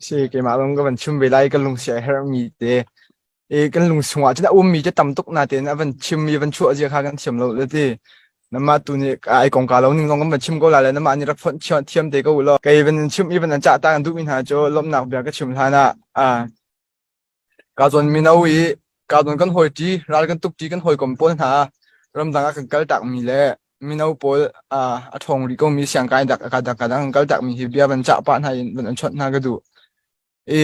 Si, keimah zong ka van chim ve lai. Kan lungsi a herhmi te, i kan lungsung ah cun a ummi te tam tuk na tein a van chim i van chuah zia kha kan thiam lo le ti. Namah tu nih ai kongka lo ning zong kan van chim ko la le namah nih rak phon thiam thiam te ko u law. Kei van in chim i van in cah ta kan duhmi hna cu lawmhnak bia ka chim hlan ah a Kaa zuan mino i kaa zuan kan hawi ṭi, ral kan tuk ṭi kan hawikom pawl hna ramdang ah kan kal takmi le mino pawl ah a ṭhawng rih komi siangkai dak kadang kan kal takmi hi bia van cah pah hna in van an chawnh hna ka duh. I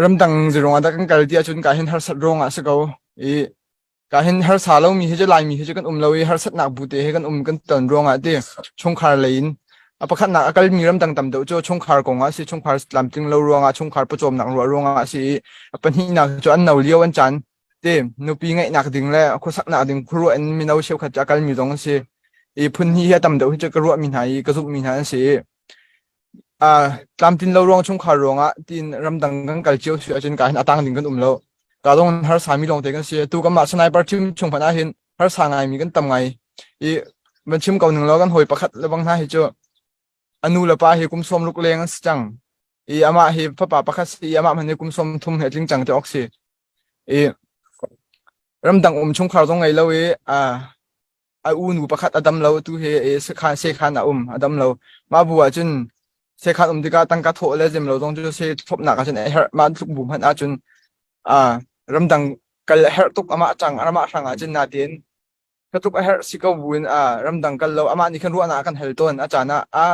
ramdang zeruang ah dah kan kal ti ahcun kai hin harsat ruangah a si ko. I ka hin harsa lomi hi cu laimi hi cu kan um lo i harsatnak bu te he kan um kan ton ruangah ti chungkhar lei in a pakhatnak a kalmi ram dang tam deuh cu chungkhar kong ah si chungkhar tlamtling lo ruangah chungkhar pawcawmnak ruah ruangah si i a pahnihnak cu an no lio an chan te nupi ngeihnak ding le khuasaknak ding khuaruah in mino cheukhat cu a kalmi zong an si i phun hi hi a tam deuh hi cu ka ruahmi hna i ka zumhmi hna an si tlamtlin lo ruang chungkhar ruangah tiin ramdang kan kal cio si ahcun ka hin atang ding kan um lo ka dong harsa mi lawng te kan si tu kamah sniper team chung phan ah hin harsa ngai mi kan tam ngai i man chim ko ning lo kan hoi pakhat lebang hna hi chu anu le pa hi kum som luk leng an si cang i ama hi papa pakhat si i ama man hi kum som thum he tling chang te ok si i ramdang um chungkhar zong ngai lo i a a u nu pakhat a dam lo tu he e sekhan sekhan a um a dam lo mah bu ah cun sekhan um tikah tangka thawh le zem lo zong cu se thopnak ah cun a herh mah tluk bu hmanh ah cun a ramdang kal a herh tuk amah chang amah hrang ah cun natin ka tuk a herh si ko buin a ramdang kal lo amah nih khan ruahnak kan hel ton a caan ah a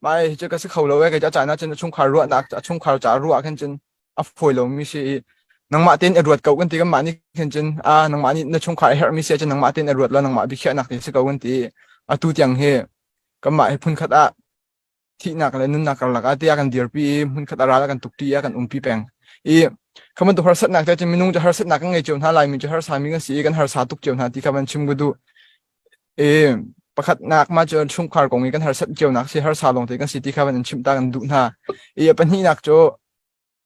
mai cu ka si kho lo e ka a caan ah cun a chungkhar ruahnak a chungkhar ca ruah khan cun a fawi lomi si i nangmah tein i ruat ko kan ti kanmah nih hin cun a nangmah nih na chungkhar a herhmi si ah cun nangmah tein i ruat law nangmah biakhiahnak tein si ko kan ti atu tiang hi kanmah hi phunkhat ah thihnak le nunnak karlak ah tiah kan dirpi i hmunkhat a ral ah kan tukṭi ah kan umpi peng i kha bantuk harsatnak te cun minung cu harsatnak kan ngei cio hna lai mi cu harsa mi kan si i kan harsa tuk cio hna ti kha ban chim gu du e pakhatnak ma cu chungkhar kong i kan harsat cionak si harsa long te kan si ti kha ban in chim ta kan duh hna i a pahnihnak cu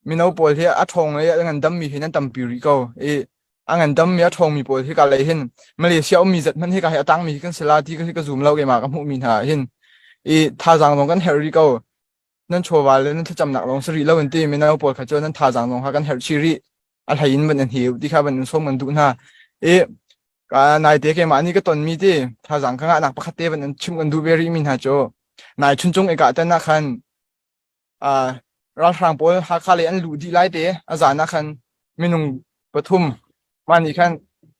mino pawl hi a ṭhawng le a ngandammi hin an tampi rih ko i a ngandammi a ṭhawngmi pawl hi kalei hin Malaysia ummi zat hmanh hi ka hei a tangmi hi kan si la ti hi ka zum lo keimah ka hmuhmi hna ah hin i thazaang zong kan herh rih ko nan chawva le nan thlacamnak lawng si rih lo in ti mino pawl kha cu nan thazaang zong kha kan herh chih rih a hlei in van an hiu ti kha van in som kan duh hna i naite keimah nih ka tonmi ti thazaang ka ngahnak pakhat te van an chim kan duh ve rih mi hna cu nai chun chung i kah tan ah khan ralhrang pawl Hakha lei an luh dih lai te a zan ah khan minung pathum mah nih khan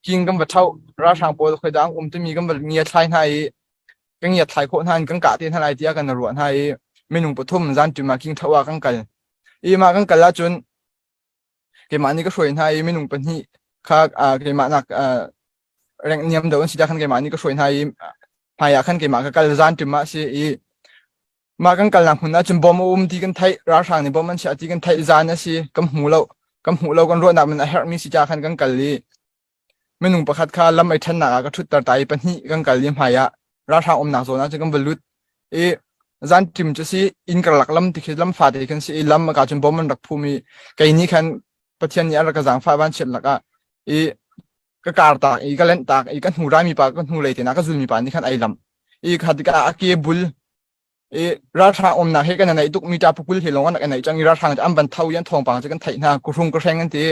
king kan va tho ralhrang pawl khoi dang um timi kan va ngiat thlai hna i kan ngiat thlai khawh hna kan kah te hna lai tiah kan ruah hna i minung pathum zan tum ah king tho ah kan kal i mah kan kal ahcun keimah nih ka hruai hna i minung pahnih kha ah, keimah nak ah, rengh niam deuh an si ah khan keimah nih ka hruai hna i hmaiah khan keimah ka kal zan ṭim ah a si i mah kan kalnak hmun ahcun bom a um ti kan theih ralhrang nih bom an chiah ti kan theih zan a si kan hmu lo kan hmuh lo kan ruahnak man a herhmi si ca khan kan kal i Minung pakhat kha lam ei ṭhannak ah ka ṭhutter ta i pahnih kan kal i hmaiah ralhrang umnak zawn ah cun kan va lut i zan ṭim cu si inn karlak lam ti khi lam fate kan si i lam a ka cun bom an rak phum i kei nih khan Pathian nih an rak ka zaangfah vanchiat lakah i ka kartak i ka lenhtak i ka hnurami pa ka hnulei tein a ka zulmi pa nih khan ai lamh i kha tikah a ke bul i ralhrang umnak hi kan neih tukmi ta pukul hi lawng an rak neih cang i ralhrang an van tho i an thawngpang cu kan theih hna kuhrung kuhreng an ti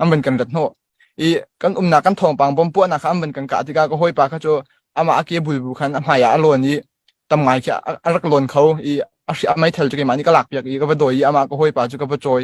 an van kan rat hnawh i kan umnak kan thawngpang bom puahnak kha an van kan kah tikah ka hawipa kha cu amah a ke bulbu khan a hmaiah a lawn i tam ngai khi a rak lawn kho i a mei thel cu keimah nih ka lakpiak i ka va dawi i amah ka hawipa cu ka va cawi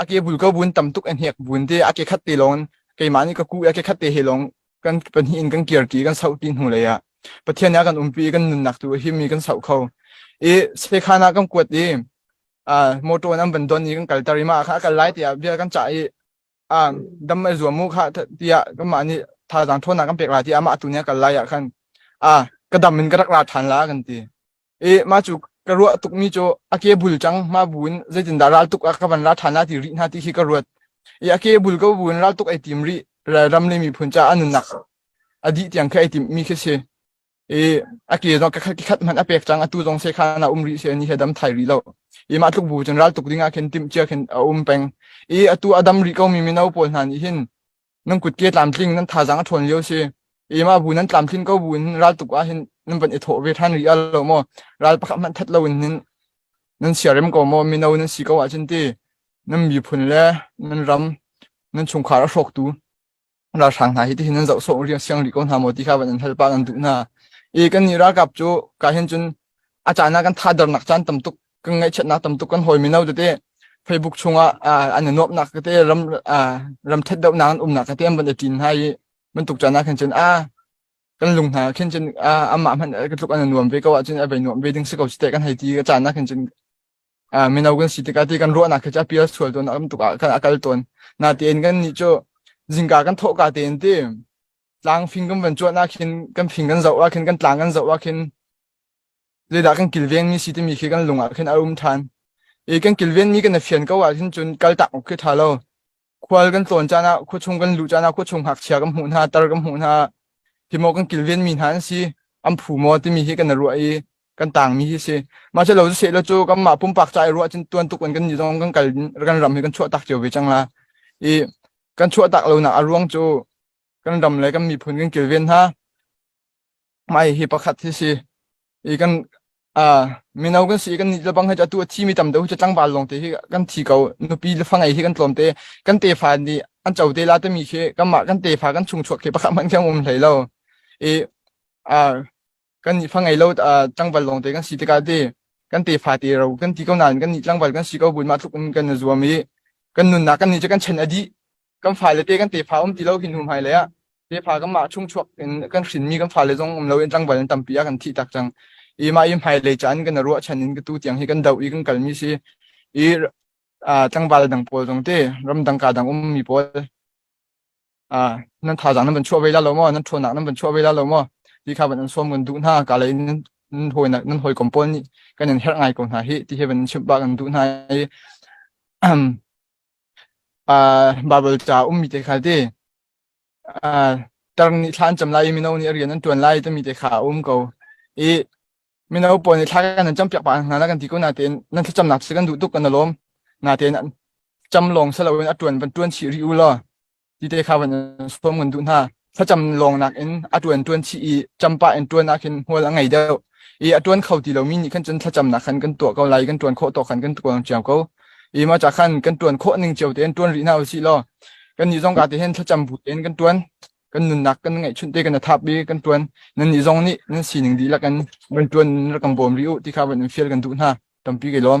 a ke bul ko bun tam tuk an hek bun te a ke khat te lon keimah nih ka ku a ke khat te he lon kan pahnih in kan kir ti kan sau ti hnu lei ah pathian ya kan umpi kan nunnak tu him mi kan sau kho i sekhana kan kuat i a motor nan ban don ni kan kal tari ma kha kal lai tia bia kan cha i a dam mai zuam mu kha tia kan ma ni tha jang thona kan pek la ti ama atu ne kal lai ya khan a ka dam in ka rak la than la kan ti eh ma cu ka ruah tukmi cu a ke bul cang ma bu in zeitindah ral tuk ah ka van ra ṭhan na ti rih na ti hi ka ruat i a ke bul ka bu in ral tuk ai tim rih ram le miphun ca an nunak a dih tiang kha ai tim mi khi si i a ke zong ka khat hman a pek cang atu zong se kha na um rih se ni he dam thai rih lo i ma tluk bu cun ral tuk ding ah khin tim chia khin a um peng i atu a dam rih ko mi mino pawl hna nih hin nan kutke tlamtling nan thazang a ṭhawn lio si ema bu nan tlamtlin ko bu in raltuk ah hin nan van i thawh ve ṭhan rih lo maw ral pakhat hmanh that lo in hin nan siarem ko maw mino nan si ko ahcun ti nan miphun le nan ram nan chungkhar a hrawktu ralhrang hna hi tihin nan zoh sawh ri siang rih ko hna maw ti kha van an hal pa nan duh hna i kan ni ralkap cu ka hin cun a caan ah kan thadar nak caan tam tuk kan ngaihchiatnak tamtuk kan hawi mino tete facebook chungah an i nuamhnak tete ram ram thet dohnak an umnak tete an van i ṭin hna i bantuk can ah khan cun a kan lung hna khin cun amah hmanh ka tluk an nuam ve ko ahcun a vai nuam ve ding si ko site kan hei ti ka caan ah khan cun mino kan si tikah ti kan ruahnak khi cha pial sual ton am tuk ah kan akal ton na tein kan ni chu zingka kan thawhka tein ti tlang phing kan van chuah na khin kan phing kan zau a khin kan tlang kan zau a khin zeidah kan kilvengmi si timi khi kan lung ah khin a um ṭhan. I kan kilvenmi kan i fian ko ahhin cun kaltak awk khi ṭha lo. Khual kan tlawn caan ah, khuachung kan luh caan ah, khuachung ngakchia kan hmuh hna, tar kan hmuh hna, hi maw kan kilvenmi hna an si, an phu maw timi hi kan i ruah i kan tangmi hi si. Mah cu lo cu seh lo cu kanmah pumpak ca i ruah cun tuan tuk in kan ni zong kan kal kan ram hi kan chuah tak cio ve cang la. I kan chuah tak lonak a ruang cu kan ram le kan miphun kan kilven hna. mai hi pakhat hi si i kan a mino kan si kan ni le bang hi atu thi mi tam deuh hi tlangval long te hi kan thi ko nupi le fangei hi kan tlawm te kan te fa ni an cho te la te mi khi kan mah kan te fa kan chung chuak khi pakhat mang thiang um hlei lo i a kan ni fangei lo tlangval long te kan si tika te kan te fa te ro kan ti ko nan kan ni tlangval kan si ko bun ma tluk um kan na zuam i kan nun na kan ni che kan chen adi kan fale te kan tefa um ti lo hin hnu hmai lei ah tefa kan mah chung chuak in kan hrin mi kan fale zong um lo in tlangval an tampi a kan thi tak cang i ma i hmai lei chan kan ruah chan in tu tiang hi kan do i kan kal mi si i tlangval dang pawl zong te ram dang ka dang um mi pawl a nan tha zang nan ban chuah ve la lo mo nan thona nan ban chuah ve la lo mo ti kha ban an som gun du na ka lei nan hoi nan hoi kom pol ni kan in her ngai ko hna hi ti he ban chim ba kan du na i uh, Bible ca ummi te kha ti uh, tar nih thla an cam lai i mino nih rian an tuan lai timi te kha a um ko i mino pawl nih thla kan an cam piak pa hna na kan ti ko na tein nan thlacamnak si kan duh tuk kan alom na tein cam lawng si loin a tuan van tuan chih rih u law Tite kha van in suam ngan duh hna. Thlacam lawng nakin a tuan tuan chih i champa in tuan ah khin hmual a ngei deuh. I a tuan kho ti lomi nih khan cun thlacam nak khan kan tuah ko lai, kan tuan khawh tawk khan kan tuang cio ko. I ma cha khan kan tuan khawh ning cio tein tuan rih hna usih law kan nih zong ka te hen thlacam bu tein kan tuan kan nunnak kan ngaih chun te kan thap bi kan tuan nan ni zong nih nan sining di lakan kan tuan rakang bawm ri u ti kha van in fial kan duh hna tampi ke lawm